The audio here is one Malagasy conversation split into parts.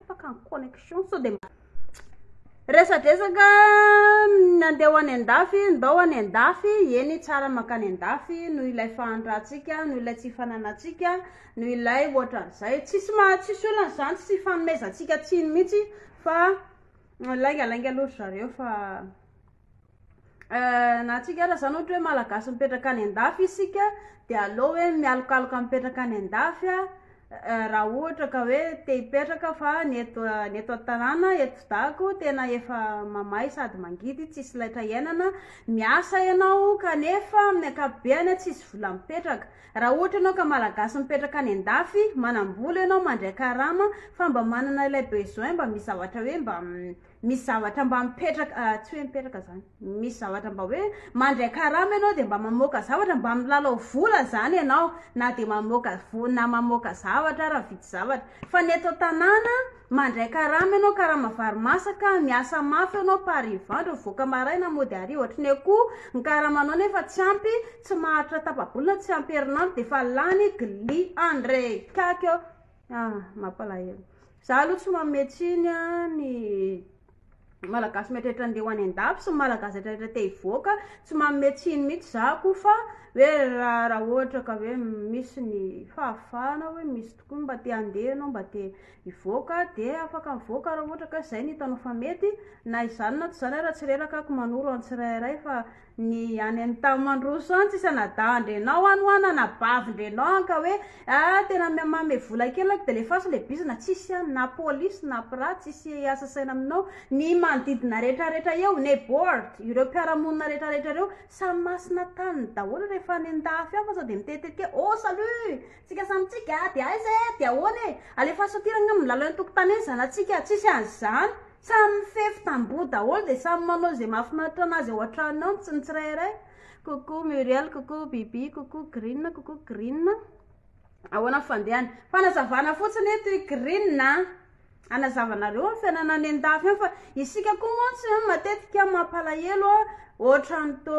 tapaka ny connexion sao de mba resadresaka nandeha ho any an-dafy ndao any an-dafy eny tsara mankany an-dafy noho ilay fahantratsika noho ilay tsy fananatsika noho ilay ohatran'izay tsisy maha tsisy olona izany tsy fanomezantsika tsiny mihitsy fa laingalainga aloha ry zareo fa Euh na antsika ara zany ohatra hoe malagasy mipetraka any andafy isika de aleo hoe mialokaloka mipetraka any andafy a raha ohatra ka hoe te hipetraka fa ny eto ny eto an-tanàna eto dago tena efa mamay sady mangidy tsisy laitra iainana miasa ianao kanefa amin'ny ankapobeny a tsisy vola mipetraka raha ohatra ianao ka malagasy mipetraka any andafy manam-bola ianao mandray karama fa mba manana ilay besoin mba misy zavatra hoe mba Misy zavatra mba mipetraka, ah, tsy hoe mipetraka zany, misy zavatra mba hoe mandray karama ianao dia mba mamoaka zavatra, mba milalao vola zany ianao, na dia mamoaka vo- na mamoaka zavatra ary mividy zavatra. Fa ny eto an-tanàna, mandray karama ianao, karama vary masaka, miasa mafy ianao par hivandry, mivoaka maraina, mody hariva, ohatry ny akoho, ny karamanao nefa tsy ampy, tsy maharitra tapa-bolana, tsy ampy herinandro dia efa lany, glia, andreikaika eo. Ah, mampalahelo. Za aloha tsy manome tsiny an, ny Malagasy mieritreritra andeha ho any an-dafy sy ny Malagasy retraretra te hivoaka, tsy manome tsiny mihitsy za ko fa hoe raha raha ohatra ka hoe misy ny fahafahana hoe misy tokoa ny mba te handeha ianao mba te hivoaka de afaka mivoaka raha ohatra ka zay no hitanao fa mety na izany na tsy izany ara tsy reraka ko manoro an-tsirairay fa ny any any tao mandroso any tsisa nadahndrenao any ho ana nabavindrenao any ka hoe a ah, tena mame vola kely aky de le fasy le bizina tsisy any na polisy na pira tsisy asasaina aminao ny manodidina rehetrarehetra eo ne bord ireo mpiaramonina rehetrarehetra reo samy masina tany daholo rehefa any ndafy afa sa de mitetetika o oh, salut tsika samitsika de aiza e de ahoana e alefaso aty ragna milalao ny tokotany eny zanatsika tsisy any zany Samy mifefy tamboho daholo dia samy manao izay mahafinaritra anazy ao an-tranony ao ny tsin tsirairay. Coucou Muriel, coucou Bibi, coucou Green, coucou Green. Ahoana ny fandehany? Fanazavana fotsiny eto i Green a. Anazavanareo ny fiainana any an-dafy any fa isika koa mantsy a matetika mampalahelo a ohatran'ny to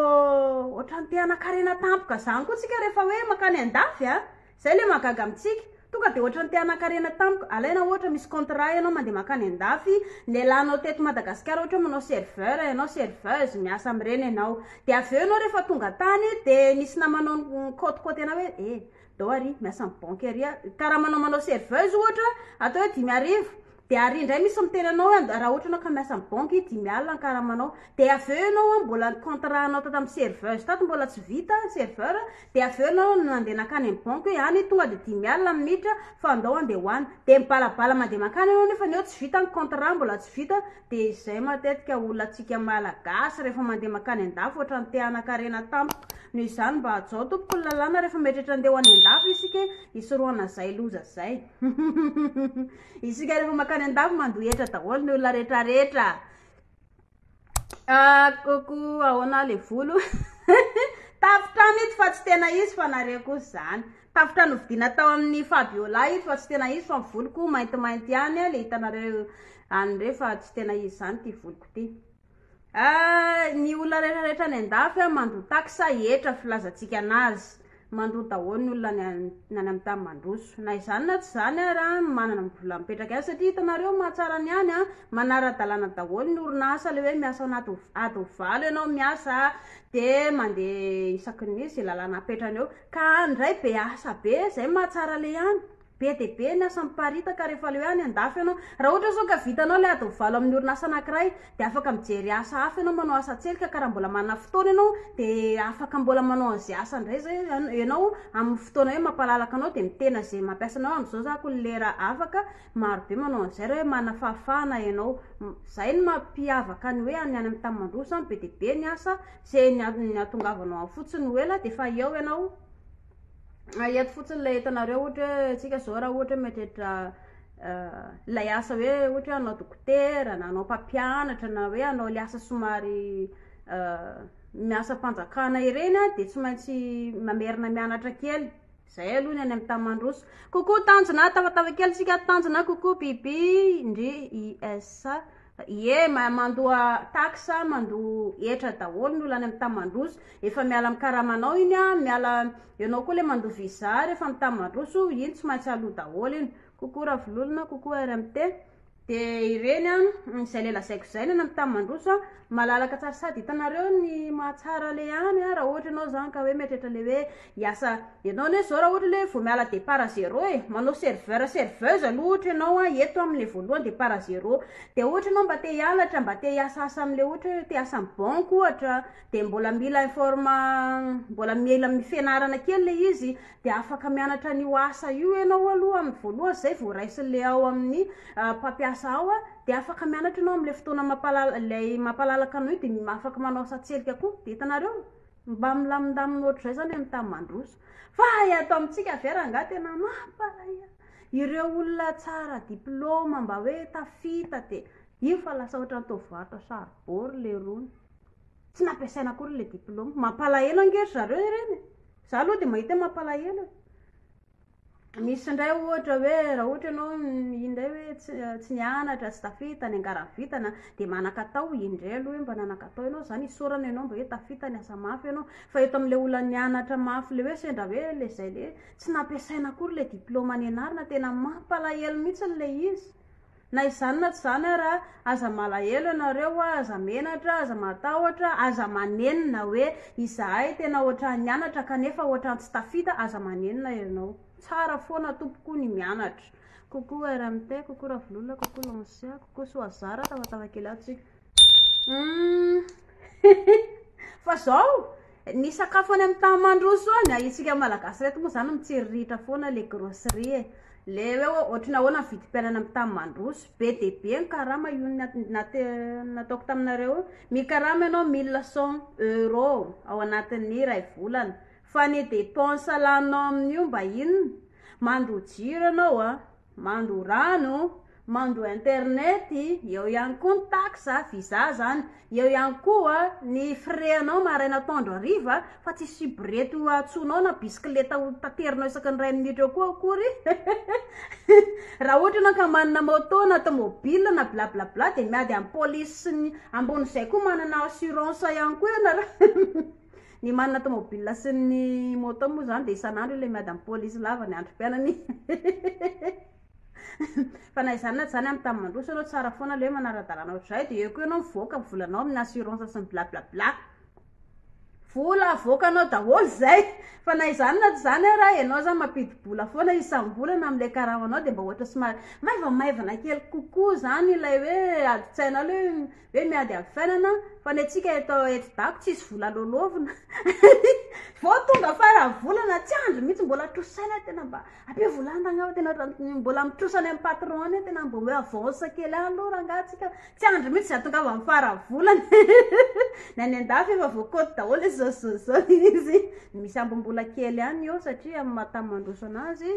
ohatran'ny te hanan-karena tampoka zany koa tsika rehefa hoe mankany an-dafy a. Zay le mahagaga amintsika. Tonga de ohatrany te hanankarena tamiko. Alaina ohatra misy contrat ianao mandeha mankany andafy, lelanao teto Madagasikara ohatra hoe manao serveur ianao, serveuse, miasa amin'ireny ianao. De avy eo ianao rehefa tonga tany de misy namanao nikaotikaoty anao hoe eh, dao ary miasa amin'ny banky ary aho. Karaha manao manao serveuse ohatra, atao hoe dimy arivo, Dia ary indray misy miteny anao hoe raha ohatra ianao ka miasa amin'ny banky, dimy alina ny karamanao. Dia avy eo ianao an, mbola ny contrat anao tato amin'ny serveuse tato mbola tsy vita, serveur, dia avy eo ianao no nandeha nankany amin'ny banky hoe any tonga dia dimy alina ny minitra fa andao handeha ho any. Dia mibalabala mandeha mankany ianao nefany eo tsy vita ny contrat, mbola tsy vita. Dia izay matetika olona-tsika Malagasy rehefa mandeha mankany an-dafy ohatran'ny te hanan-karena tampoka. Noho izany mba hajao tompoko ny lalàna rehefa mieritreritra handeha ho any an-dafy isika e, hisorohana izay loza izay. Isika rehefa makany andafy mandoa hetra daholo ny olona rehetra rehetra ah, koko ahoana le volo tafotrano ito fa tsy tena izy fa nareo koa zany tafotrano vidina tao amin'ny fabiola ito fa tsy tena izy fa voloko maintimainty ihany le hitanareo an'ireo fa tsy tena izy zany ty voloko ty Ah ny olona rehetra rehetra any andafy ah mandoa taxe sa hetra filazantsika anazy mandoa daholo ny olona any an ny any amin'ny tany mandroso na izany na tsy izany ara ny manana ny vola mipetraka any satria hitanareo mahatsara ny any ah manara dalàna daholo ny orinasa le hoe miasa ao anaty ho ady ho valo ianao miasa ah de mandeha isaky ny hoe ze lalàna apetrany eo ka any ndray be asa be zay mahatsara le any Be dia be ny asa miparitaka rehefa leo any an-dafy ianao. Raha ohatra izao ka vitanao ilay adiny valo amin'ny orinasa anankiray, dia afaka mijery asa hafa ianao, manao asa an-tselika, ka raha mbola manana fotoana ianao, dia afaka mbola manao an'izay asa indray izay ianao amin'ny fotoana hoe mampalalaka anao, dia mitena izay mampiasa anao. Amin'izao izao ko ny lera afaka, marobe manao an'izay raha hoe manana fahafahana ianao. Izay no mampiavaka ny hoe any amin'ny tany mandroso izany, be dia be ny asa, izay ny ahatongavanao any fotsiny ho ela dia efa eo ianao. Ah eto fotsiny ilay entanareo ohatra hoe antsika zao raha ohatra hoe mety hiditra ilay asa hoe ohatra hoe hanao dokotera na hanao mpampianatra na hoe hanao le asa somary ny asam-panjakana ireny a de tsy maintsy mamerina mianatra kely, zay aloha ny any amin'ny tany mandroso, coucou tanjona, tafatafa kely tsika ato tanjona, coucou bibi ndry i SH. Ie, mandoa tax, mandoa hetra daholo ny olona any amin'ny tany mandroso. Efa miala amin'ny karamanao iny an, miala, ianao koa ilay mandoa visa rehefa amin'ny tany mandroso, iny tsy maintsy aloa daholo iny. Coucou Ravololona, coucou RMT. Dia ireny an, izay ilay lazaiko izay, ny any amin'ny tany mandroso an, malalaka tsara sady hitanareo ny mahatsara ilay any an, raha ohatra ianao izany ka hoe mieritreritra ilay hoe Hiasa ianao anie zao raha ohatra le vao miala départ à zéro e, manao serveur serveuse aloha ohatra ianao a, eto am le voalohany départ à zéro, de ohatra ianao mba te hianatra mba te hiasa asa am le ohatra hoe te hiasa am banque ohatra de mbola mila informa mbola mila fianarana kely le izy de afaka mianatra an'io asa io ianao aloha am voalohany zay vao raisin le ao amin'ny mpampiasa ao a de afaka mianatra ianao am le fotoana mampalala- lay mampalalaka anao io de afaka manao asa an-tselika koa, de hitanareo. Mba milamindamina ohatr'izay izao ny tany mandroso. Fa eto amintsika ve rangahy tena mampalahelo. Ireo olona tsara diplaoma mba hoe tafita dia io fa lasa ohatrany toa varotra saribao le rony. Tsy nampiasaina akory le diplaoma. Mampalahelo ange ry zareo ireny e. Za aloha dia mahita hoe mampalahelo e. Misy indray ohatra hoe raha ohatra ianao iny indray hoe tsy tsy nianatra, tsy tafita, niangaran'ny vintana, dia manan-katao indray aloha hoe mba nanan-katao ianao, izany isaorana ianao mba hoe tafita, niasa mafy ianao. Fa eto amin'ilay olona nianatra mafy ilay hoe sendra hoe ilay izay ilay hoe tsy nampiasaina akory ilay diplaoma nianarana, tena mampalahelo mihitsy ilay izy. Na izany na tsy izany ara, aza malahelo ianareo a, aza menatra, aza matahotra, aza manenina hoe izahay tena ohatran'ny nianatra kanefa ohatran'ny tsy tafita, aza manenina ianao. Tsara foana tompoko ny mianatra. Coucou RMT, coucou Ravololona, coucou Lancia, coucou Soazara, tafatafa kely ato tsika. Fa zao, ny sakafo any amin'ny tany mandroso any, isika Malagasy ireto moa zany mitsiriritra foana le grosserie e, le hoe ohatry ny ahoana ny vidim-piainana amin'ny tany mandroso, be dia be ny karama, io nataoko taminareo io, ny karama ianao mille cent euros ao anatin'ny iray volana, fa ny dépense laninao amin'io mba inona? mandoa jiro ianao an. Mando rano, mando internet, eo ihany koa ny taxe a, visa zany, eo ihany koa ny frais anao maraina atoandro hariva fa tsy subrette hoatsoinao na bisikileta ho taterinao isaky ny iray minitra eo koa akory raha ohatra ianao ka manana moto na tomobile na blablabla dia miady amin'ny police ambony izay koa manana assurance ihany koa ianareo Ny manana tomobilina sy ny moto moa izany dia isan'andro io ilay miady amin'ny polisy lava ny androm-piainany. Fa na izany na tsy izany amin'ny tany mandroso ianao tsara foana ilay hoe manara-dalàna ohatr'izay dia eo koa ianao mivoaka ny volanao amin'ny assurance sy ny bla bla bla. Vola avoakanao daholo izay. Fa na izany na tsy izany ara ianao izany mampidi-bola foana isam-bolana amin'ilay karamanao dia mba ohatra somary maivamaivana kely kokoa izany ilay hoe adin-tsainao ilay hoe. Hoe miady amin'ny fiainana, fa ny antsika eto eto dago tsisy vola loloavina. Vao tonga fara volana tsy andry mihitsy mbola trosaina tena mba abe volantagna aho tena mbola mitrosa any amin'ny patron any tena mba hoe avance kely any aloha rangaha antsika tsy andry mihitsy za tonga amin'ny fara volana. Ny any an-dafy efa voakody daholo izao izao izao izy. Misy ambim-bola kely ihany eo satria amin'ny maha tany mandroso anazy.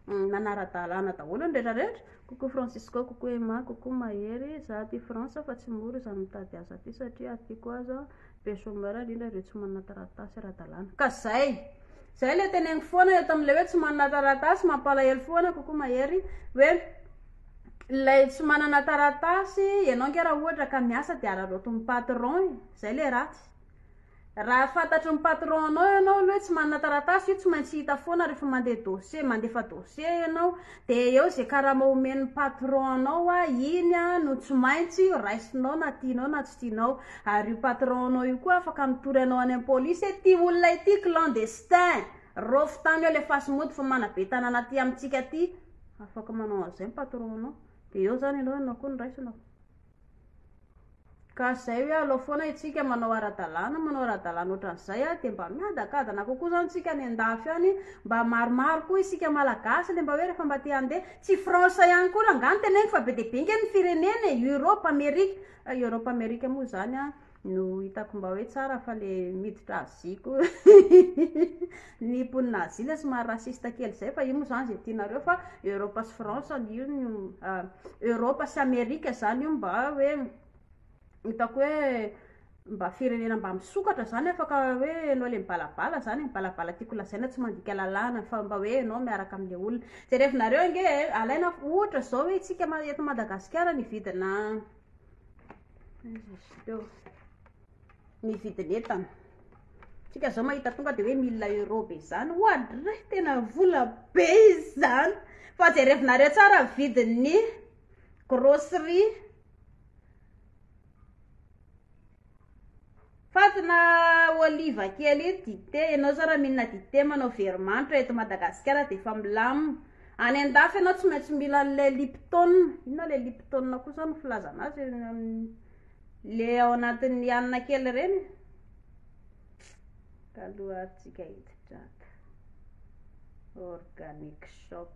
Manara-dalàna daholo ny rehetra rehetra, coucou Francisco, coucou Emma, coucou Mahery, za aty France fa tsy mora izany mitady asa aty satria aty koa aza be chômeur indrindra ireo tsy manana taratasy ara-dalàna ka zay! Zay ilay teneniko foana eto amin'ilay hoe tsy manana taratasy, mampalahelo foana coucou Mahery, hoe ilay tsy manana taratasy ianao nge raha ohatra ka miasa dia araraotin'ny patron e, zay ilay ratsy. Raha fantatry ny patron anao ianao aloha hoe tsy manana taratasy io tsy maintsy hita foana rehefa mandeha dossier mandefa dossier ianao de eo ze karama omen'ny patron anao a iny a no tsy maintsy raisinao na tianao na tsy tianao ary io patron anao io koa afaka mitory anao any am polisy hoe ty olona ity clandestin raofy tany eo lefaso mody fa manabe tanana aty amintsika aty afaka manao an'izay ny patron anao de eo zany ianao ianao koa no raisinao. Ka izay hoe alao foana isika manao ara-dalàna, manao ara-dalàna ohatran'izay a, dia mba miadakadana kokoa izany isika any an-dafy any, mba maromaro koa isika Malagasy le mba hoe rehefa mba te handeha, tsy France ihany koa ra angaha no teneniko fa be dia be ange ny firenena e, Europe, Amerika, Europe, Amerika moa izany a. no hitako mba hoe tsara fa le miditra Asie ko ny mponina Asie ilay somary raciste kely izay fa io moa zany izay tianareo fa Europe sy France io no Europe sy Amerique zany io mba hoe hitako hoe mba firenena mba misokatra zany afaka hoe enao le mibalabala zany e, mibalabala tiako lazaina tsy mandika lalàna fa mba hoe enao miaraka amle olona, jerevinareo ange e alaina ohatra zao hoe tsika eto Madagasikara ny vidina Ny vidin'entana, tsika zao mahita tonga de hoe mille euro be zany, oadray tena vola be izany, fa jerevinareo tsara vidin'ny grocerie. Fatina oliva kely io dite ianao zao raha minina dite manao very manitra eto Madagasikara dia efa milamina any andafy ianao tsy maintsy mila an'ilay lipton inona ilay lipton koa zao no filazana azy le ao anatin'ny hanina kely ireny Taloha ary tsika hitsidrata. Organic shop.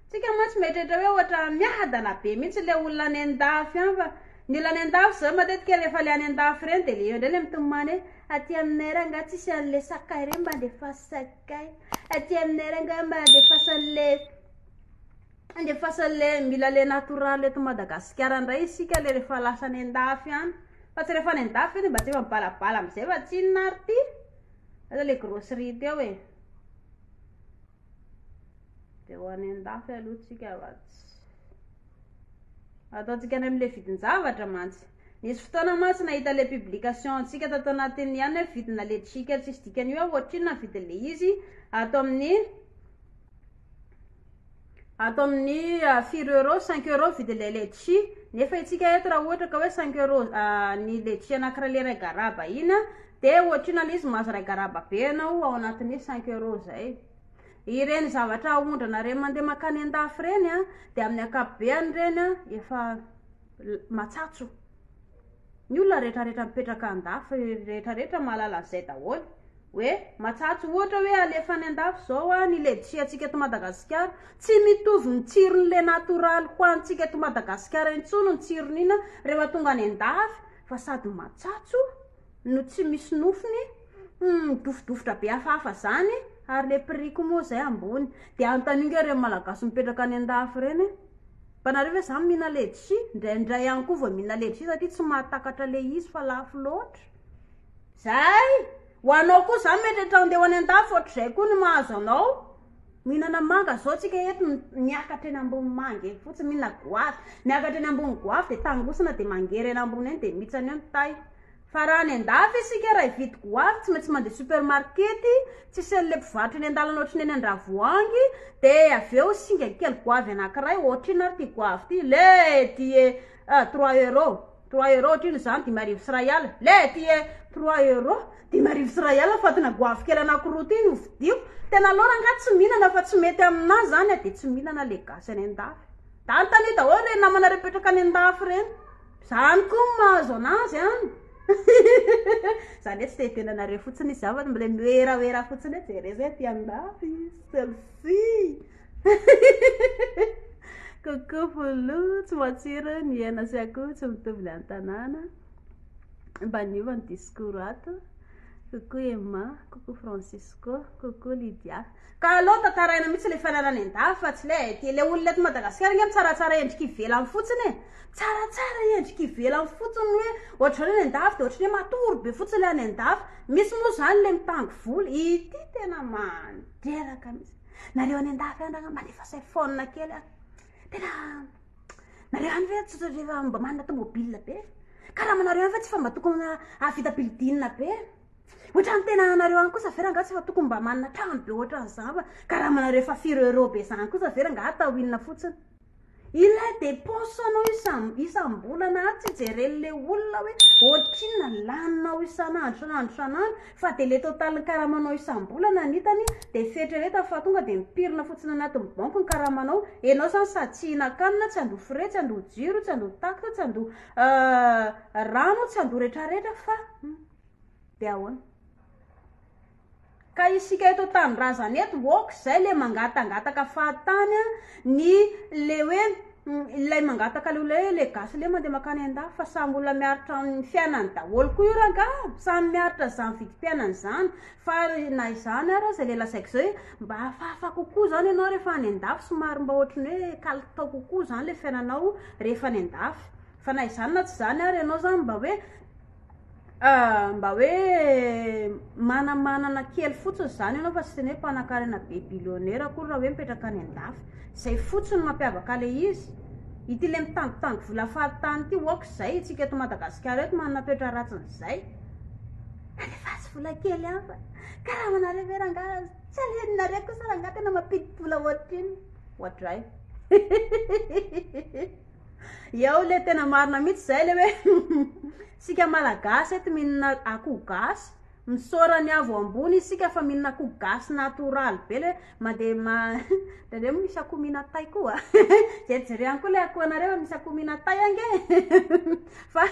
Tsika mantsy mieritreritra hoe ohatra miadana be mihitsy ilay olona any an-dafy any fa ny olona any an-dafy zao matetika rehefa le any an-dafy ireny dia le eo indray le mitomany hoe aty aminay ary angaha tsisy an'le sakay ireny mba andefaso sakay, aty aminay ary angaha mba andefaso an'le. Andefasa le mila le natoraly eto Madagasikara ndray isika le refa lasa any andafy any fa tsy refa any andafy ve de mba tsy efa mibalabala amizay fa tsinona ary ty aza le grosserie teo e de ho any andafy aloha tsika va tsy ataontsika any amle vidinjavatra mantsy nisy fotoana mantsy nahita le publication antsika tato anatiny ihany hoe vidina le trika tsisy dikany hoe ohatrinona vidinle izy ato amin'ny Ato amin'ny firy euros, cinq euros vidy ilay letchie, nefa isika eto raha ohatra ka hoe cinq euros ny letchie anankiray le iray garaba iny a, de ohatrina le izy mahazo iray garaba be anao ao anatin'ny cinq euros zay, ireny zavatra aondranareo mandeha makany an-dafy ireny a, de amin'ny ankapobeany ireny a efa. matsatso ny olona retraretra mipetraka andafy retraretra mahalala zay daholo hoe matsatso ohatra hoe alefa any andafy zao a ny ledisia antsika to madagasikara tsy mitovy ny tsirony le natoraly ho antsika to madagasikara intsony ny tsironina rehefa tonga any andafy fa sady matsatso no tsy misy nofony humm midofodofotra be hafahafa zany ary le prix ko moa zay ambony de anontanio nga reny malagasy mipetraka any andafy reny hoe mba nareo ve zany mihina ledsi ndraindray ihany ko vao mihina ledsi satria tsy mahatakatra le izy fa lafo loatra zay ho anao ko zany mety etra andeha ho any andafy ohatrizay ko ny mahazo anao Mihinana manga zao tsika eto miakatra eny ambony manga eny fotsiny mihinana goavy miakatra eny ambony goavy de tangosana de mangery eny ambony eny de mitsana eo ny tay fa raha any andafy isika raha hividy goavy tsy maintsy mandeha supermarket tsy seule mpivarotra eny andalana ohatry ny eny andravoahangy de avy eo singa kely goavy anakiray ohatry inona ary ty goavy ty le dia trois euro Trois euros otrino izany dimy arivo sy iray alina. Leh ty e! Trois euros, dimy arivo sy iray alina fatina goavy kely anankiroa ty no vidiako. Tena laura angaha tsy mihinana fa tsy mety aminà izany a! Dia tsy mihinana ilay gasy any an-dafy. Dia anontaniho daholo ireny namanareo mipetraka any an-dafy ireny. Izany koa no mahazo an'azy an! Hihihihihi! Izany hoe tsy te hiteny anareo fotsiny izy. Izany fa mbola mihoerahoera fotsiny hoe jereo izay aty an-dafy, selfie. Coucou Volo, tsy matsiro ny hena sy akoho tsy mitovy ny an-tanàna. Mba niova ny discours ato. Coucou Emma, coucou Francisco, coucou Lydia. Ka aleo tantaraina mihitsy ilay fananany an-dafy fa tsy ilay dia ilay olona eto Madagasikara ange mitsaratsara endrika ivelany fotsiny e. Mitsaratsara endrika ivelany fotsiny hoe ohatr'izany any an-dafy dia ohatr'ny hoe matory be fotsiny ilay any an-dafy. Misy moa izany ilay mitango volo. Ity tena mandreraka mihitsy. Nareo any an-dafy any angamba mba alefa phone kely a. Tena nareo any ve tsy rehefa mba manana tomobile be. Karamanareo any ve tsy fa mba tokony hahavita building be. Ohatrany tena anareo any kosa ve rangaha tsy fa tokony mba manana trano be ohatran'izany fa karamanareo efa firy euro be izany kosa ve rangaha atao inona fotsiny. Ilay dépense anao isam isam bolana ary tsy jeren le olona hoe ohatrinona ny laninao isan andro isan andro isan andro fa de le total ny karamanao isam bolana no hitany de fieritreretany fa tonga de mipirina fotsiny anaty ny banky ny karamanao enao zany sady tsy hihinan kanina tsy handoa frais tsy handoa jiro tsy handoa taxe tsy handoa rano tsy handoa retraretra fa de ahoana Ka isika eto an-tanindrazana eto ok zay le mangatangataka fahatany a ny le hoe ilay mangataka le olona hoe le gasy le mandeha makany an-dafy fa samy olona miaritra amin'ny fiainany daholo koa io rangaha samy miaritra an'zany vidim-piainany zany fa na izany ara zay le lazaiko zay hoe mba hafahafa kokoa zany ianao rehefa any an-dafy somary mba ohatry ny hoe kalitao kokoa zany le fiainanao rehefa any an-dafy fa na izany na tsy izany ara ianao zany mba hoe Mba hoe manamanana kely fotsiny izany ianao fa tsy ny hoe mpanankarena be billionaire akory raha hoe mipetraka any an-dafy. Izay fotsiny no mampiavaka ilay izy. Ity ilay mitangotango vola fahatany ity ok izay isika eto Madagasikara eto manana toetra ratsin'izay. Alefaso vola kely hafa. Karamanareo ve rangaha tsy alehanareo kosa rangaha tena mampidi-bola ohatr'inona. Ohatr'izay. Eo le tena marina mitsy zay le hoe sika malagasy eto minina akoho gasy misaora ny avo ambony isika fa minina akoho gasy natoraly be le mande ma ndraindray moa misy akoho minatay koa jerijerehany koa le akoho anareo misy akoho minatay ange fa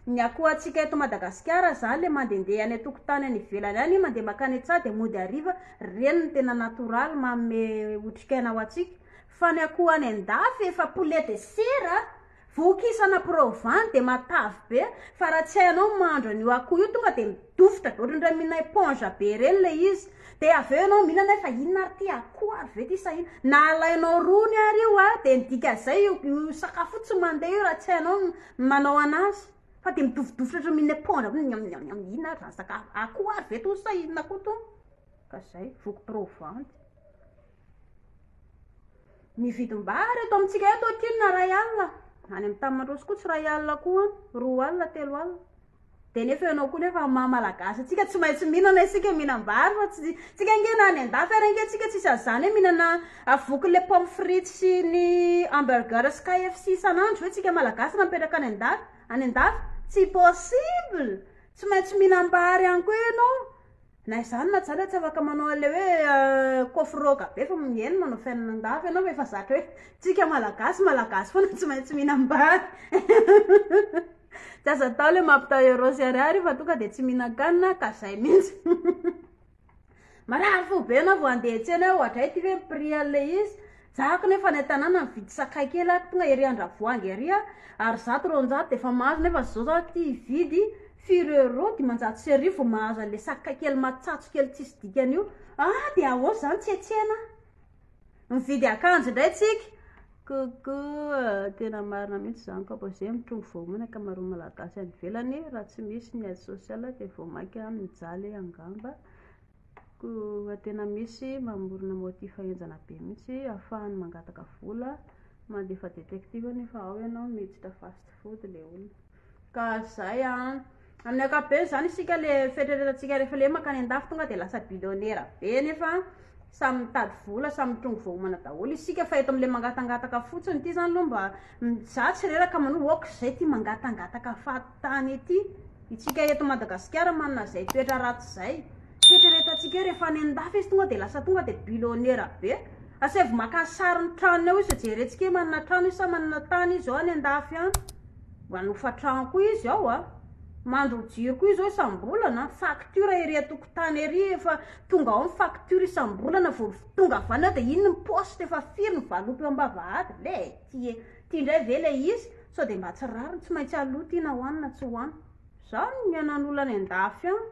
ny akoho atsika eto madagasikara zany le mandendeha any atokotany any ivelany any mande makany an-tsaha de mody ariva reny ny tena natoraly maome otrikaina ho atsika Fa ny akoho any andafy efa poulet de chair a! Voky isana provan dia matavy be fa raha tsy hainao ny mahandro an'io akoho io tonga dia midofotra be ohatran'ireny mihina éponge be ireny ilay izy dia avy eo ianao mihinana hoe fa inona ary ity akoho ary ve ity sa inona? Na alainao rony ary io a dia ny dikan'izay io io sakafo io tsy mandeha io raha tsy hainao ny manao an'azy fa dia midofodofotra ohatran'ny mihinana éponge hoe miam miam miam inona ary izany sakafo akoho ary ve itony sa inona koa itony? Ka izay, voky provan. Ny vidim-bary eto amintsika eto aty na iray alina, any amin'ny tany mandroso koa tsy iray alina koa an, roa alina, telo alina. Dia nefa ianao koa nefa amin'ny maha malagasy antsika tsy maintsy mihinana isika, mihinam-bary fa tsy, tsika ange na any an-dafy ary ange tsika tsisy an'izany hoe mihinana vokin'ilay pomme frite sy ny hamburger sy KFC isan'andro ve tsika malagasy raha mipetraka any an-dafy, any an-dafy? Tsy possible! Tsy maintsy mihinam-bary ihany koa ianao. Na izany na izany dia tsy afaka manao an'ilay hoe kôfrôga be fa mihaino manao fiainana an-dafy ianao fa efa zatra hoe tsika malagasy malagasy foana tsy maintsy mihinam-bary tsy azo atao ilay mampitao euro sy ariary io fa tonga dia tsy mihinan-kanina ka izay mihitsy marary fo be ianao vao handeha hiantsena hoe ohatray ity ve ny prix an'ilay izy Zahako nefa any an-tanàna mividy sakay kely aho, tonga ery Andravoahangy ery aho, ary zato roanjato dia efa mahazo, nefa izao za aty hividy firy euros, dimanjato sy arivo vao mahazo an'ilay sakay kely matsatso kely tsisy dikany io, ah dia ahoana izany tsy hetsena aho? Mividy akanjo indray tsika. Coucou, tena marina mihitsy izany kapa izay mitrongy vao omana ny ankamaroan'ny malagasy any ivelany, raha tsy misy ny aide sociale dia vao mainka mijaly angamba. Koa tena misy mamorona motif henjana be mihitsy afahany mangataka vola mandefa detective nefa ao ianao miditra fast food le olona ka zay an amin'ny ankapobeny zany isika le fieritreretantsika rehefa le makany andafy tonga de lasa billionaire be nefa samy mitady vola samy mitrongy voahomana daholo isika fa eto amle mangatangataka fotsiny ity zany aloha mba za tsy reraka manoa ok zay ty mangatangataka fa tany ity itsika eto Madagasikara manana zay toetra ratsy zay fieritreretantsika eo rehefa any andafy izy tonga de lasa tonga de bilonera be asaivo maka sary ny tranony ao izy jerentsika hoe manana trano izy sa manana tany izy ao any andafy any mba hanofa trano koa izy ao a mandro jiro koa izy ao isam-bolana faktiora ery an-tokotany ery efa tonga ao ny faktiora isam-bolana vao tonga avy any ao de iny ny paositra efa firy ny valopy eo am-bavahady lety e Ty ndray ve le izy? Sao de mba tsy rariny, tsy maintsy aloha ty na hoany na tsy hoany. Zao no nihaonan'ny olona any andafy any.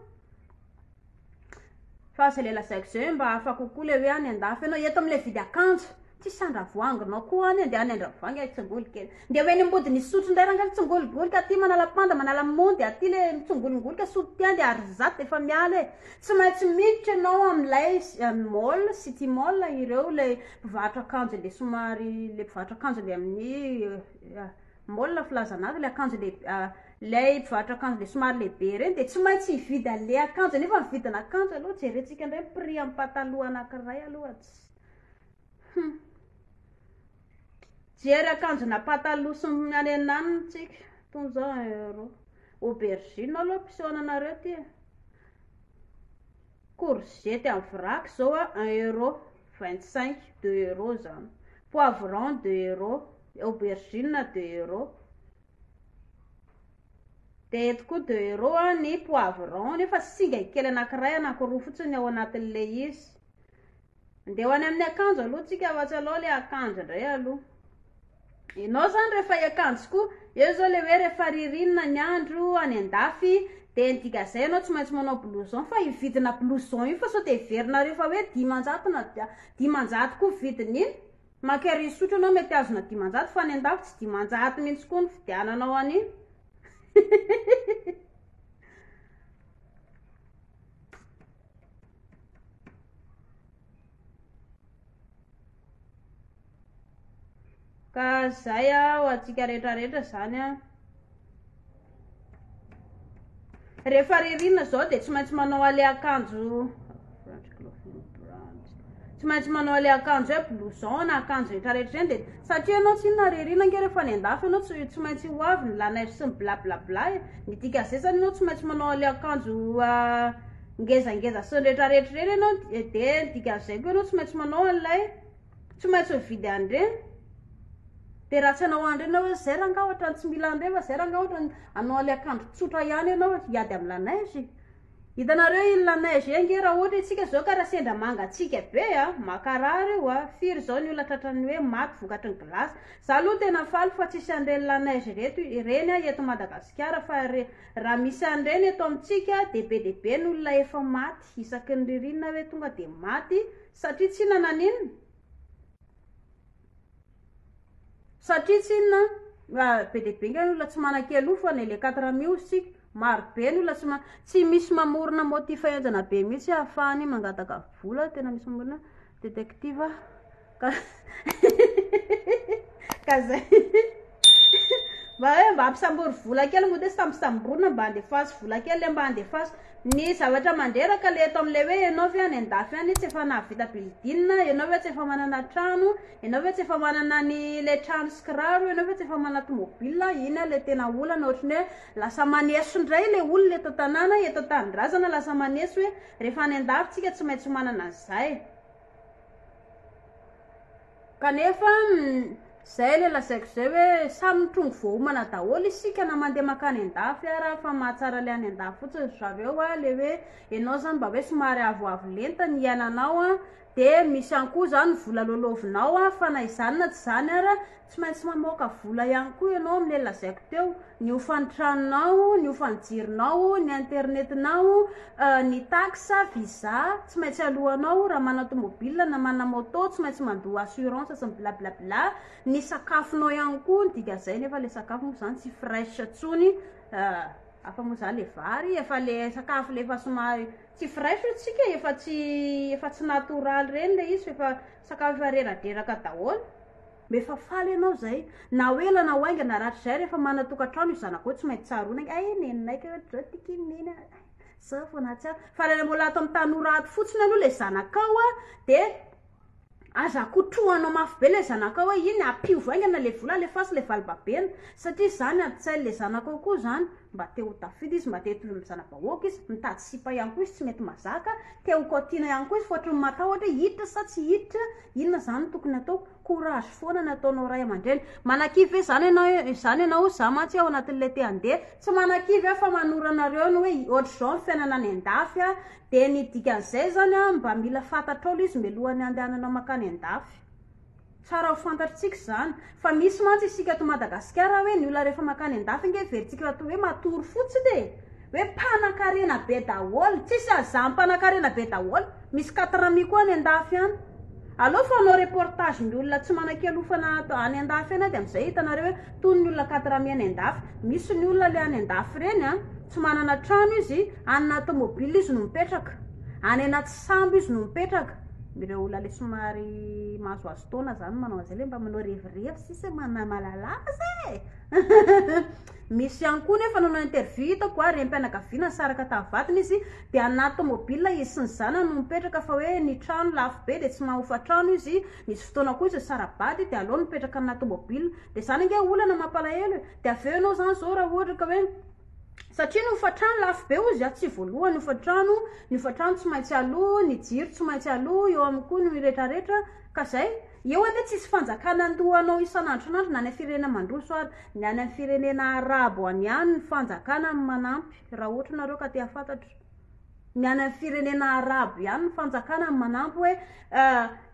Fa zay le lazaiko zay hoe mba hafa kokoa le hoe any andafy enao, eto amle vidy akanjo tsy sandravoanginao koa any de any andravoahangy ay tsingolo kely. Ndeha ho eny ambodiny hisotro ndray rangah mitsingologoloka aty manala panda manala mondy aty le mitsongolongoloka sotro ty any de ary zato de efa miala e. Tsy maintsy miditra enao amlay mall, city mall ireo le Mpivarotra akanjo le somary le mpivarotra akanjo le amin'ny mall filazana azy le akanjo le ilay mpivarotra akanjo le somary lehibe ireny dia tsy maintsy hividy an'ilay akanjo nefa ny vidina akanjo aloha jerentsika indray ny prix amin'ny pataloha anankiray aloha tsy hum jery akanjo na pataloha sy ny any anany tsika tony zao euro aubergine aloha mpiseho ananareo ty e Courgette en vrac zao a un euro vingt cinq deux euro zany, poivron deux euro, aubergine deux euro, de eto koa deux euro a ny poivron nefa singany kely anakiray anakiroa fotsiny ao anatin'ilay izy, Andeha ho any amin'ny akanjo aloha tsika ohatsy alao le akanjo ndray aloha enao zany rehefa iakanjo koa eo zao le hoe rehefa ririnina ny andro any andafy de ny dikazay anao tsy maintsy manao blouson fa hividina blouson io fa sao de heverinareo fa hoe dimanjato na dimanjato koa vidin'iny maka ery sotro anao mety azona dimanjato fa any andafy tsy dimanjato mihitsy koa ny fidiananao an'iny Ka zay ah ho antsika rehetra rehetra zany ah. Rehefa ririnina zao de tsy maintsy manao ale akanjo tsy maintsy manao ilay akanjo hoe blouson na akanjo rehetra rehetra ireny dia satria ianao tsy inona ary irina ange rehefa any an-dafy ianao tsy tsy maintsy ho avy ny la neige sy ny blablabla e ny dikan'izay izany ianao tsy maintsy manao ilay akanjo ngezangeza sy ny rehetra rehetra ireny ianao dia ny dikan'izay koa ianao tsy maintsy manao an'ilay tsy maintsy mividy an'ireny dia raha tsy hanao an'ireny ianao hoe zay r'angaha ohatran'ny tsy mila an'ireny fa zay r'angaha ohatran'ny hanao an'ilay akanjo tsotra ihany ianao hiady amin'ny la neige e Hitanareo iny la neige iny nge raha ohatra isika zao ka raha sendra mangatsiaka be a, makarary io a, firy zao ny olona tratran'ny hoe maty vokatry ny glace. Za aloha tena faly fa tsisy an'ireny la neige ireto ireny a eto Madagasikara fa re raha misy an'ireny eto amintsika de be de be ny olona efa maty isaky ny ririnina hoe tonga de maty satria tsy nanan'inona Satria tsy inona an, be dia be nga ny olona tsy manan-kery aloha fa ne le quatre mi hozy tsika, maro be ny olona tsy ma- tsy misy mamorona motif henjana be mihitsy ahafahany mangataka vola, tena misy mamorona détective ka ka zay. Mba hoe mba ampisambory vola kely moa dia tsy tampisamborina mba andefaso vola kely le mba andefaso. Ny zavatra mandreraka le eto amin'ilay hoe ianao ve any an-dafy any tsy efa nahavita building, ianao ve tsy efa manana trano, ianao ve tsy efa manana ny le trano sy kiraro, ianao ve tsy efa manana tomobile, iny ary le tena olana ohatry ny hoe lasa maneso indray le olona eto an-tanàna, eto an-tanindrazana lasa maneso hoe rehefa any an-dafy tsika tsy maintsy manana an'izay. Kanefa, izay ilay lazaiko izay hoe samy mitrongy voahomana daholo isika na mandeha mankany an-dafy ara fa mahatsara ilay any an-dafy fotsiny ry zareo a, ilay hoe ianao izany mba hoe somary avoavo lenta ny iainanao a, dia misy ihany koa izany vola lolovinao a, fa na izany na tsy izany ara tsy maintsy mamoaka vola ihany koa ianao amin'ilay lazaiko teo. ny hofan'ny tranonao, ny hofan'ny jironao, ny internetinao, ny taxe, visa, tsy maintsy aloanao, raha manana tomobile na manana moto tsy maintsy mandoa assurance sy ny blablabla, ny sakafonao ihany koa ny dikan'izay nefa le sakafo moa zany tsy fresh tsony hafa moa za le vary efa le sakafo le efa somary tsy fresh ozy tsika e efa tsy efa tsy natoraly reny le izy f'efa sakafo efa reradreraka daholo. Rehefa faly ianao izay, na ho ela na ho haingana, rahatrizay rehefa manana tokantrano io zanako io tsy maintsy tsaroana ny, ay neninay kay ohatr'izao ity kay ny neny a, izao vao nahatsiaro. Fa raha ilay mbola ato amin'ny tanora ato fotsiny aloha ilay zanakao a, dia aza kotrohanao mafy be ilay zanakao hoe iny, ampihovy haingana ilay vola, alefaso ilay valibabena, satria izany adin-tsain'ilay zanakao koa izany, mba te ho tafita izy, mba te hitovy amin'ny zana-bahoaka izy, mitady sipa ihany koa izy tsy mety mazaka, te ho kaotiana ihany koa izy, fa ohatran'ny matahotra hoe hiditra sa tsy hiditra, Inona izany no tokony atao? Courage foana no ataonao ray aman-dreny. Manakivy ve izany ianao e, izany ianao hoe za mantsy ao anatin'ilay te handeha? Tsy manakivy aho fa manoro anareo ny hoe ohatr'izao ny fiainana any an-dafy a, dia ny dikan'izay izany a, mba mila fantatrao ilay izy mialohan'ny handehananao mankany an-dafy. Tsara ho fantatritsika izany. Fa misy mantsy isika ato Madagasikara hoe ny olona rehefa makany an-dafy ange heverintsika ato hoe matory fotsiny e! hoe mpanakarena be daholo, tsisy haza mpanakarena be daholo, misy quatre amis koa any an-dafy any. Aleo fanao reportage ny olona tsy manan-kialofana ato any an-dafy any dia amin'izay hitanareo hoe tony ny olona quatre amis any an-dafy. Misy ny olona le any an-dafy ireny an, tsy manana trano izy, any anaty mobile izy no mipetraka, any anaty sambo izy no mipetraka, ireo olona le somary mahazoazo. fotoana zany manao an'izay le mba manao revirevy sisa e, manamalala azy e misy ihany koa nefa nanao interview hitako a renim-pianakaviana nisaraka tamin'ny vadiny izy de anaty tômôbila izy sy ny zanany no mipetraka fa hoe ny trano lafo be de tsy maha hofan-trano izy nisy fotoana koa izy nisara-bady de aleo nipetraka aminà tômôbila de zany ange olana mampalahelo e de avy eo ianao zany zao raha ohatra ka hoe Satria ny hofantrano lafo be hozy aho tsy voalohany hofantrano ny hofantrano tsy maintsy aloha ny jiro tsy maintsy aloha eo aminy koa ny retraretra ka zay eo anie tsisy fanjakana andoha anao isan'andro isan'andro na any am firenena mandroso ary ny any am firenena arabo any ihany ny fanjakana no manampy raha ohatry nareo ka te hafantatra Ny any amin'ny firenena arabo ihany ny fanjakana no manampy hoe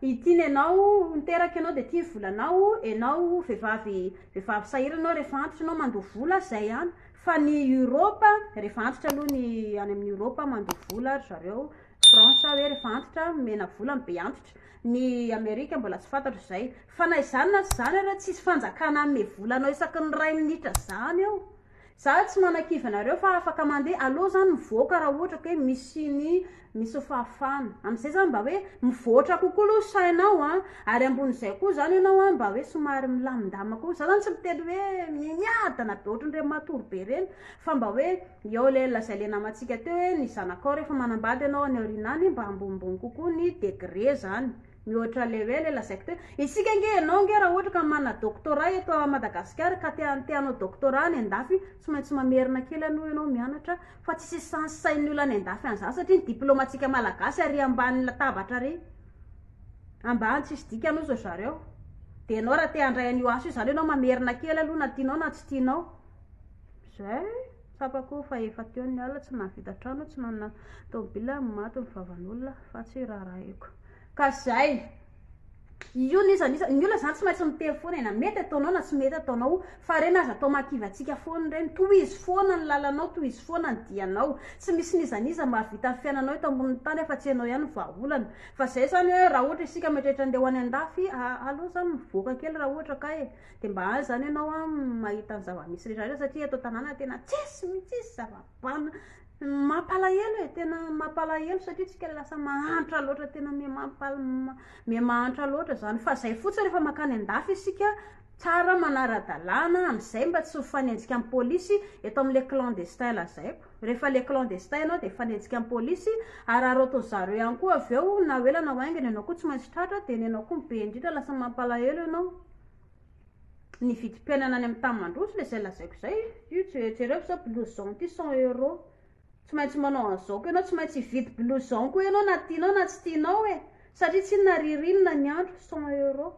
ity ny anao niteraka ianao dia ity ny volanao, ianao vehivavy vehivavy sahirana ianao rehefa antitra ianao mandoa vola, izay ihany. Fa ny Europe, rehefa antitra aloha ny any amin'ny Europe mandoa vola ry zareo, France hoe rehefa antitra omena vola ny be antitra. Ny Amerika mbola tsy fantatro izay. Fa na izany na tsy izany ary tsisy fanjakana hanome vola anao isaky ny iray minitra izany eo. Za tsy manakivy anareo fa afaka mandeha alou zany mivoaka raha ohatra ka hoe misy ny misy fahafahana. Amzay zany mba hoe mivoatra kokoa aloha sainao an! Ary ambonin'izay koa zany ianao an mba hoe somary milamindamina koa. Za zany tsy miteny hoe miadana be ohatran'ireny matory be ireny fa mba hoe eo le zay le namantsika teo hoe ny zanakao refa manambady ianao any aoriana any mba ambonimbony kokoa ny degré zany. Mihoatra level le lazaiko teo. Isika nge ianao nge raha ohatra ka manana doctorat eto à Madagascar ka te te hanao doctorat any andafy tsy maintsy mamerina kely aloha ianao mianatra fa tsy hisy sens sain'ny olona any andafy any zany satria ny diploma antsika malagasy ary ambany latabatra ary ambany tsisy dikany ozy ry zareo de ianao raha te handray an'io asa io zany ianao mamerina kely aloha na tianao na tsy tianao zay. Tsapako fa efa teo ny alina, tsy nahavita trano, tsy nanana tomobila, maty ny vavan'olona fa tsy rarahiko. Ka zay. Io ny izany izany. Ny olona zany tsy maintsy miteny foana e, na mety ataonao na tsy mety ataonao. Fa ireny aza atao makivatsika foana ireny. Tohizo foana ny lalanao, tohizo foana ny dianao. Tsy misy n'iza n'iza mahavita ny fiainanao eto ambonin'ny tany afa-tsy ianao ihany ny vahaolana. Fa zay zany hoe raha ohatra isika mieritreritra andeha ho any an-dafy, a, aleo za mivoaka kely raha ohatra ka e. Dia mba aza izany ianao an mahita ny zava-misy rehetra satria eto an-tanàna tena tsisy mihitsy, tsisy zava-bana. Mampalahelo e, tena mampalahelo satria isika ilay lasa mahantra loatra, tena miha mahantra loatra izany. Fa izay fotsiny rehefa mankany an-dafy isika, tsara manara-dalàna, amin'izay mba tsy mifanenjika amin'ny polisy eto amin'ilay clandestin lazaiko. Rehefa ilay clandestin ianao dia hifanenjika amin'ny polisy, hararaotin-dry zareo ihany koa avy eo, na ho ela na ho aingana ianao koa tsy maintsy tratra, dia ny anao koa be indrindra, lasa mampalahelo ianao. Ny vidim-piainana any amin'ny tany mandroso ilay izay lazaiko izay. Io je- jereo izao blouson ity cent euros. Tsy maintsy manao an'izao koa ianao, tsy maintsy hividy blouson koa ianao na tianao na tsy tianao e. Satria tsinona ririnina ny andro, cent euros.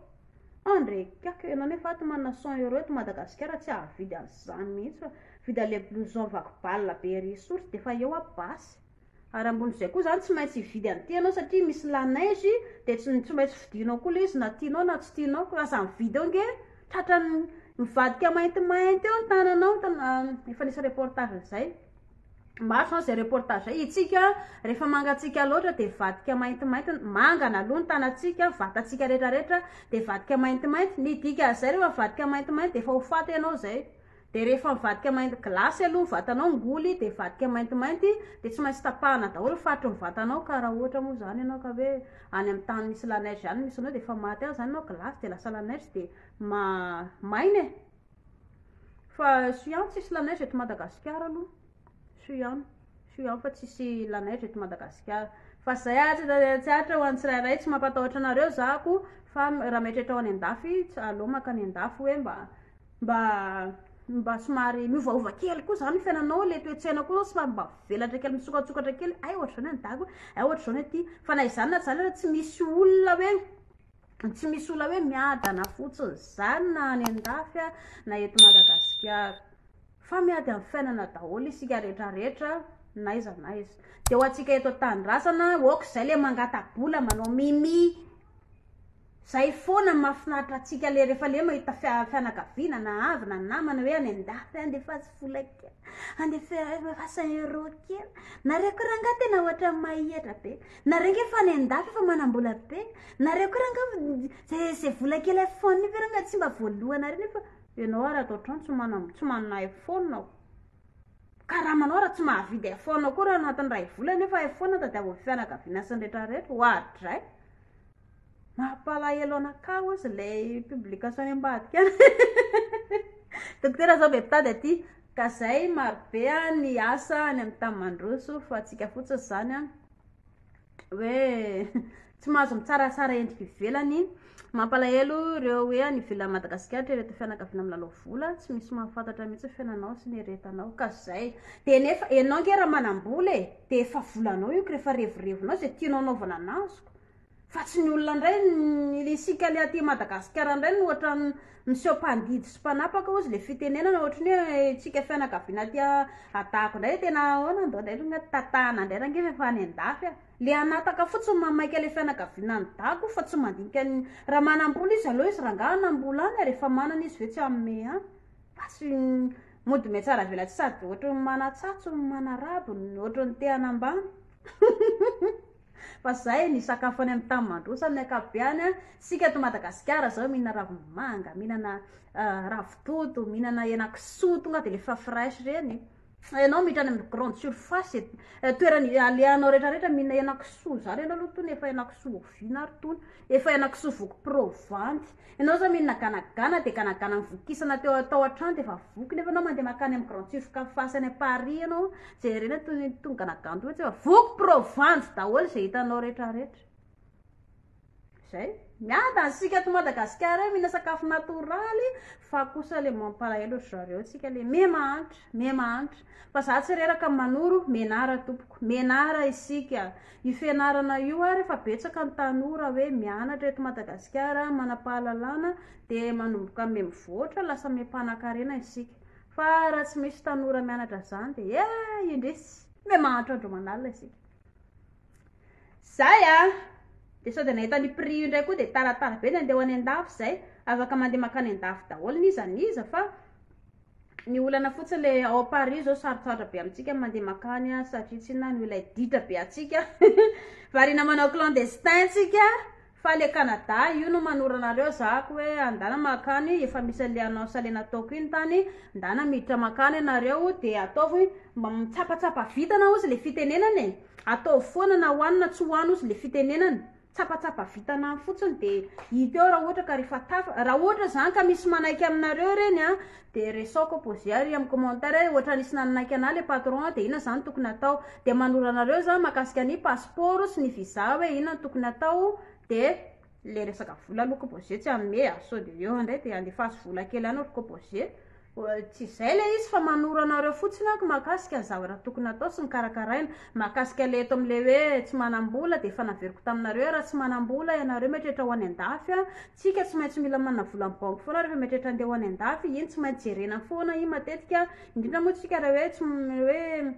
Ah ndry kiaka, ianao nefa ato manana cent euros eto Madagasikara tsy hahavidy an'izany mihitsy fa. Vidy an'ilay blouson vaky balina be ery soritra dia efa eo aby basy. Ary ambonin'izay koa izany tsy maintsy hividy an'ity ianao satria misy la neige dia tsy tsy maintsy vidianao koa ilay izy na tianao na tsy tianao ka lasa mividy eo nge tratran'ny mivadika maintimainty eo ny tananao efa nisy reportage an'izay maro izany izay reportage izay isika rehefa mangatsiaka loatra dia mivadika maintimainty ny mangana aloha ny tanantsika vatantsika rehetrarehetra dia mivadika maintimainty ny dikan'izay rehefa mivadika maintimainty dia efa ho faty ianao izay de rehefa mivadika mainty glace aloha ny vatanao ngoly de vadika maintimainty de tsy maintsy tapahana daholo ny faritry ny vatanao ka raha ohatra moa zany ianao ka hoe any amin'ny tany misy la neige any misy anao de efa maty any zany ianao glace de lasa la neige de ma- maina e fa soa ihany tsisy la neige eto madagasikara aloha Soa ihany, soa ihany fa tsisy lanaitra eto Madagasikara. Fa zay ary tsy aritra ho an'ny tsirairay, tsy mampatahotra anareo za ko fa raha mieritreritra ho any an-dafy, aleo maka any an-dafy hoe mba mba mba somary miovaova kely koa zany ny fiainanao, le toe-tsaina koa zao somary mba velatra kely misokatsokatra kely, hay ohatr'izao ny any dago e, hay ohatr'izao ny aty, fa na izany na tsy izany ary tsy misy olona hoe. Tsy misy olona hoe miadana fotsiny izany na any an-dafy na eto Madagasikara. Fa miady amin'ny fiainana daholo isika rehetra rehetra na aiza na aiza. Dia ho antsika eto an-tanindrazana, ok izay ilay mangata-bola manao mimi, izay foana no mahafinaritra antsika ilay rehefa le mahita fianakaviana na havana na namana hoe any an-dafy any dia fatsy vola kely, any dia fasan'ny euro kely. Nareo koa rangahy tena ohatran'ny mahetra be. Nareo nge fa any andafy efa manambola be nareo ko ranga zay zay vola kely iphone io ve ranga tsy mba voalohanareo nefa ianao ary ato antrano tsy mana tsy manana iphone aho karamanao raha tsy mahavidy iphone koa raha anatin'ny iray volana io fa iphone tadiavin'ny fianakaviana sy ny rehetra rehetra oadray Mampalahelo anakah ozy ilay publication any ambadika any Dokotera zao be mpitady aty ka zay marobe ny asa any amin'ny tany mandroso fa antsika fotsiny izany an hoe tsy mahazo mitsaratsara endrika ivelany mampalahelo ireo hoe any ivelan'i Madagasikara ireto fianakaviana milalao vola tsy misy mahafantatra mihitsy ny fiainanao sy ny eretanao ka zay dia nefa ianao ange raha manam-bola e dia efa volanao io ka rehefa revirevinao izay tianao hanaovana an'azy koa Fa tsy ny olona ndray ny isika le aty Madagasikara ndray no ohatran'ny miseho mpandidy sy mpanapaka ozy le fitenenana ohatran'ny hoe isika fianakaviana aty adahako ndray tena ahoana ndao ndray ry ngahy tatahana ndray range fa efa any andafy aho le hanataka fotsiny mamaika le fianakaviana any dago fa tsy mandinika ny raha manambola izy aleo izy rangaha hanambola any ary efa manana izy ve tsy hanome any fa tsy mody mihatsaravelatsihy sady ohatran'ny manatsatso manarabo ohatran'ny te hanambany Fa zay ny sakafo any amin'ny tany mandroso amin'ny ankapobeany an! Isika ato Madagasikara zao mihinana ravim-bomanga, mihinana ravitoto, mihinana henakisoa tonga dia le efa fresh ireny e! Ianao miditra any amin'ny grande surface, toerana alehanao rehetra rehetra mihinana henakisoa zany ianao aloha tony efa henakisoa ovina ary tony, efa henakisoa voky provanty, Ianao zao mino naganagana dia ganagana nivokisana teo tao an-trano dia efa voky nefa ianao mandeha makany amin'ny grande surface any amin'ny Paris ianao jerena toy ny tony ganagana toy ohatr'izay fa voky pro vanjo daholo izay hitanao rehetrarehetra. Zay. Miadana isika ato Madagasikara eo mihina sakafo natoraly fa kosa ilay mampalahelo ry zareo tsika ilay miha mahantra, miha mahantra. Fa za tsy reraka manoro, menara tompoko, menara isika. Io fianarana io ary efa betsaka ny tanora hoe mianatra eto Madagasikara, manam-pahalalana dia manomboka mihamivoatra, lasa miham-panankarena isika. Fa raha tsy misy tanora mianatra an'izany dia eh! indrisy! Mihamahantra andro aman'alina isika. Zay a! Dia sao dia nahita ny prix io indray koa dia taratara be ny andeha ho any an-dafy izay, afaka mandeha mankany an-dafy daholo n'iza n'iza fa. Ny olana fotsiny le ao Paris zao sarotsarotra be amintsika mandeha makany a satria tsy na noho ilay ditra be atsika variana manao clandestin tsika fa le Canada io no manorana anareo zahako hoe andana makany efa misy an'le annonce le nataoko iny tany ndana miditra makany ianareo de ataovy mba mitsapatsapa vintana ozy le fitenenana e ataovy foana na ho any na tsy ho any ozy le fitenenana tsapatsapa vitana any fotsiny de hita eo raha ohatra ka rehefa tafa raha ohatra zany ka misy manaiky aminareo ireny a de resaoko poser ary amin'ny commentaire hoe ohatra nisy nanaiky anah le patron de inona zany tokony atao de manoro anareo za makasika ny passeport sy ny visa hoe inona no tokony atao de le resaka vola aloha ko poser tsy hanome a sao de eo indray de andefaso vola kely any ry ko poser Tsy izay ilay izy fa manoro anareo fotsiny aho mahakasika ny zavatra tokony hatao sy ny karakaraina. Mahakasika ilay eto amin'ilay hoe tsy manam-bola dia efa naveriko taminareo hoe raha tsy manam-bola ianareo mieritreritra ho any an-dafy an, tsika tsy maintsy mila manana vola amin'ny banky foana rehefa mieritreritra handeha ho any an-dafy, iny tsy maintsy jerena foana iny matetika indrindra moa tsika raha hoe tsy hoe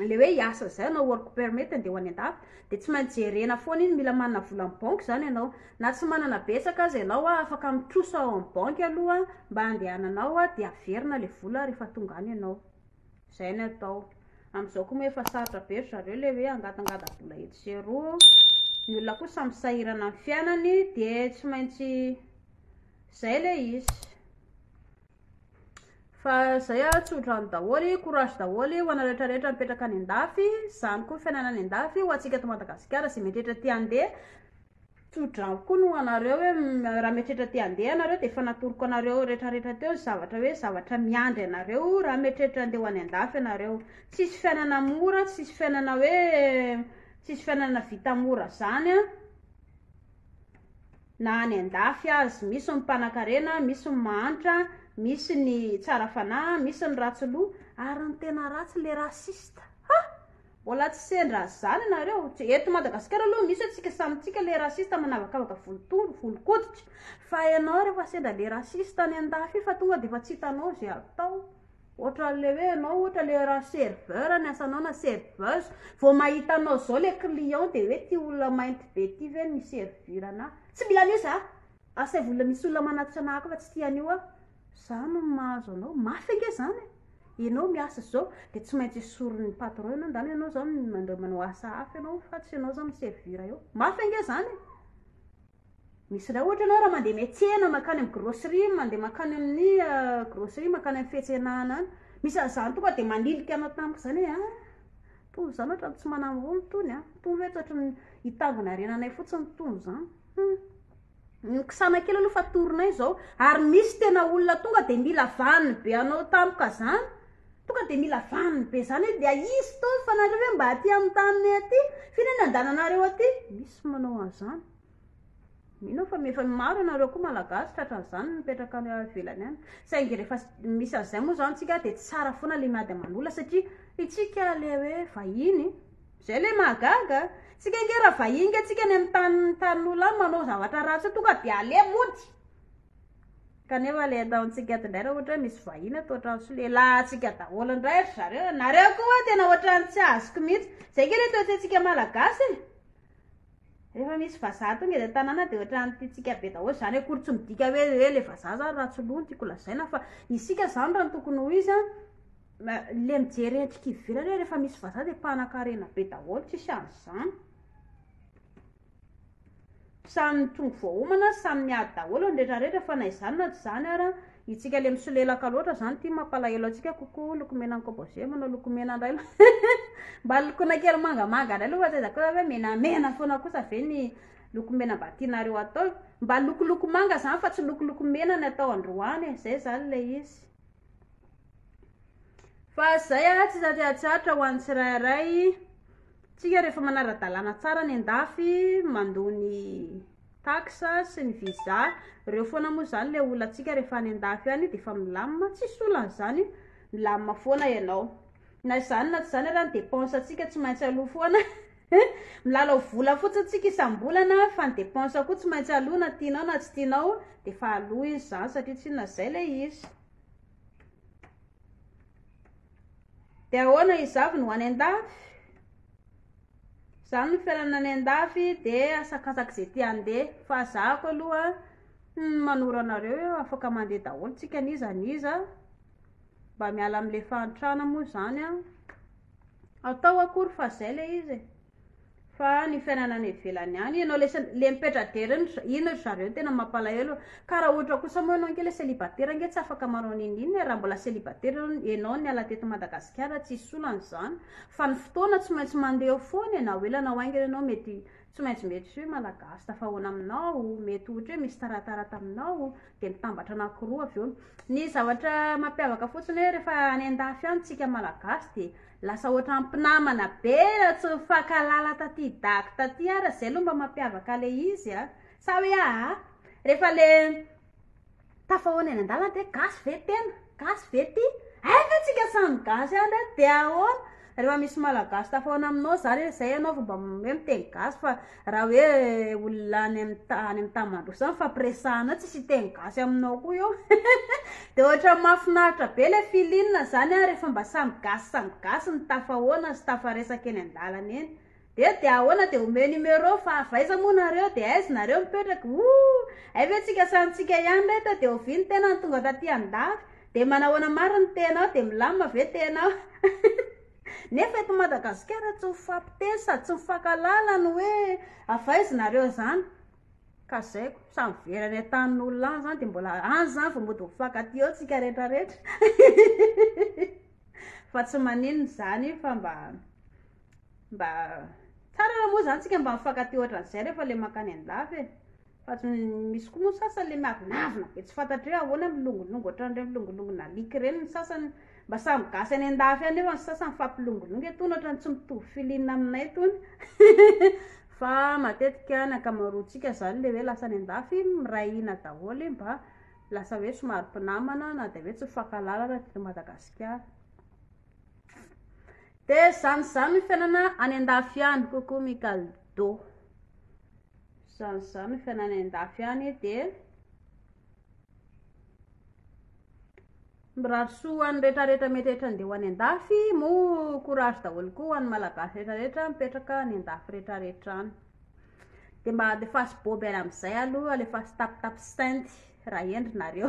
le hoe hiasa zay anao work permit dia ho any andafy dia tsy maintsy jerena foana iny mila manana vola am banky zany ianao na tsy manana betsaka aza ianao a afaka mitrosa ao am banky aloha mba handehananao a dia averina le vola rehefa tonga any ianao zay ny atao amizao ko moa efa sarotra be ry zareo le hoe hangatangata bola etsy sy eroa ny olona koa samy sahirana am fiainany dia tsy maintsy zay le izy Fa zay ah tsodrano daholo e, courage daholo ho anareo rehetra rehetra mipetraka any andafy, zany koa ny fiainana any andafy ho antsika eto Madagasikara zay mety rehetra te handeha, tsodrano koa ny ho anareo hoe raha mety rehetra te handeha ianareo de efa natoroko anareo rehetra rehetra teo ny zavatra hoe zavatra miandry anareo raha mety rehetra handeha ho any andafy ianareo, tsisy fiainana mora, tsisy fiainana hoe tsisy fiainana vita mora zany an. na any andafy azy. Misy ny mpanankarena, misy ny mahantra, misy ny tsara fanahy, misy ny ratsy loha, ary ny tena ratsy le raciste. Ha! Mbola tsy sendra zany nareo. Eto Madagasikara aloha misy atsika samy tsika le raciste manavakavaka volotondro, volokoditra. Fa enao refa sendra le raciste any andafy io fa tonga defa tsy hitanao ze atao. Ohatran'le hoe ianao ohatra le raha serveur ny asanao na serveuse, vao mahita anao izao le client de hoe ty olona mainty be ity ve no hi-servir anahy? Tsy mila an'io za! Asaivo olona misy olona manatitra anahy koa fa tsy tia an'io aho. Za no mahazo anao, mafy ange zany e! Ianao miasa zao de tsy maintsy esorin'ny patron ianao ndany ianao zao mandao manao asa hafa ianao fa tsy ianao zao mi-servir eo. Mafy ange zany e! Misy indray ohatra ianao raha mandeha miatsena mankany amin'ny grocerie, mandeha mankany amin'ny grocerie, mankany amin'ny fiantsenana any. Misy an'izany tonga dia manilika anao tampoka izany hoe ah! Itony izany ohatran'ny tsy manam-bola itony an! Itony ve tsy ohatran'ny hitangona harena anay fotsiny itony izany? Hum! Nokisana kely aloha fa torinay izao. Ary misy tena olona tonga dia mila vaniny be anao tampoka izany, Tonga dia mila vaniny be zany hoe dia hisy fotoana fa nareo ve mba aty amin'ny taninay aty f'inona no andananareo aty? Misy manao an'izany. Mino aho fa efa maro ianareo koa malagasy tratran'izany mipetraka any ivelany any. Saingy rehefa misy an'izay moa zany tsika dia tsara foana ilay miady aman'olona satria itsika ilay hoe vahiny, izay ilay mahagaga. Tsika ange raha vahiny ange tsika any amin'ny tanin'olona any manao zavatra ratsy eo tonga dia aleha mody. Kanefa le ataontsika ato indray raha ohatra hoe misy vahiny ato an-trano sy lehilahintsika daholo indray ry zareo e, nareo koa hoe tena ohatran'ny tsy azoko mihitsy. Izay ange le toe-tsaintsika malagasy e. Rehefa misy vazaha tonga eny an-tanàna dia ohatran'ny tiantsika be daholo izany, akory tsy midika hoe hoe le vazaha izany ratsy loha no tiako lazaina fa isika izany raha ny tokony ho izy an, le mijery endrika ivelany hoe rehefa misy vazaha dia mpanan-karena be daholo, tsisy an'izany. Samy mitrongy voahomana, samy miady daholo ny rehetra rehetra fa na izany na tsy izany ara, itsika le misolelaka loatra izany ty mampalahelo antsika coucou lokomena an'i Composé manao lokomena indray aloha mba lokoina kely mangamanga indray aloha fa tsy aiza kosa ve menamena foana kosa ve ny lokomena mba tianareo atao e, mba lokoloko manga izany fa tsy lokoloko mena ny atao androany e, zay izany le izy. Fa zay ah tsy za te hatsiatra ho an'ny tsirairay tsika refa manara-dalàna tsara any an-dafy mandoa ny taxe sy ny visa reo foana moa zany le olantsika refa any an-dafy any de efa milamina tsisy olana zany milamina foana ianao na zany na tsy zany ary any depense tsika tsy maintsy aloha foana. Milalao vola fotsiny tsika isambolana fa ny dépense koa tsy maintsy aloa na tianao na tsy tianao dia efa aloa izy zany satria tsy inona zay ilay izy. Dia ahoana izavy no any an-dafy? Zany ny fiainana any an-dafy dia asakasaky izay te handeha fa zahako aloha hmm, manoro anareo eo afaka mandeha daholo tsika an'iza an'iza mba miala amin'ilay fahantrana moa zany an. atao akory fa zay le izy e! fa ny fiainana any ivelany any, ianao le sendra le mipetra-dera iny ry iny ry zareo no tena mampalahelo e, ka raha ohatra kosa moa ianao ange le célibataire ange tsy afaka manao n'inon'inona e, raha mbola célibataire ianao ianao niala teto Madagasikara tsisy olana izany, fa ny fotoana tsy maintsy mandeha eo foana e, na ho ela na ho aingana ianao mety Tsy maintsy mety soe malagasy tafahoana aminao, mety ohatra hoe misy taratara taminao, dia mitambatra anakiroa avy eo. Ny zavatra mampiavaka fotsiny hoe rehefa any an-dafy any tsika malagasy dia lasa ohatra mpinamana be raha tsy nifankahalala taty dago taty ara, zay aloha mba mampiavaka le izy a, sa hoe aa rehefa le Tafahoana eny an-dalana dia gasy ve tena? Gasy ve ty? Hay ve tsika samy gasy any re dia ahoana? Rehefa misy malagasy tafahoana aminao zany hoe zay ianao vao mba hoe miteny gasy fa raha hoe olona any amin'ny ta- any amin'ny tany mandroso any fampiresahana tsisy hiteny gasy aminao koa eo. Dia ohatran'ny mahafinaritra be ilay feeling zany a rehefa mba samy gasy samy gasy ny tafahoana sy tafaresaka eny an-dalana eny. Dia dia ahoana dia omeo numéro fa avy aiza moa nareo dia aiz nareo mipetraka ooh hay ve tsika samy tsika ihany re to dia ovy ny tenany tonga taty andafy dia manahoana marina ny tenao dia milamina ve tenao nefa eto madagasikara tsy mifampiteny sady tsy mifankalala ny hoe avy aiza nareo zany ka zay ko samy very any antanin olona any zany dia mbola any zany vao mody mifankatia eo tsika rehetra rehetra fa tsy maninona zany io fa mba Mba tsara raha moa zany tsika mba mifankatia ohatran'izay rehefa ilay mankany an-dafy e. Fa tsy misy koa moa ny sasany ilay miavonavona be tsy fantatry hoe ahoana milongilongy ohatran'ireny milongilongin'alika ireny ny sasany. Mba samy gasy any an-dafy any nefa ny sasany mifampilongilongy e. Tony ohatran'ny tsy mitovy feeling aminay tony. Fa matetika ny ankamaroantsika izany ilay hoe lasa any an-dafy miray hina daholo e, mba lasa hoe somary mpinamana na dia hoe tsy mifankahalala raha teto Madagasikara. Dia izany izany ny fiainana any an-dafy any coucou Michael Do. Izany izany ny fiainana any an-dafy any dia mirary soa ho an'ny rehetrarehetra mety rehetra andeha ho any an-dafy moa courage daholo koa ho an'ny malagasy rehetrarehetra mipetraka any an-dafy rehetrarehetra any. Dia mba alefaso boby any amin'izay aloha, alefaso tapitapy sainty raha hendry nareo.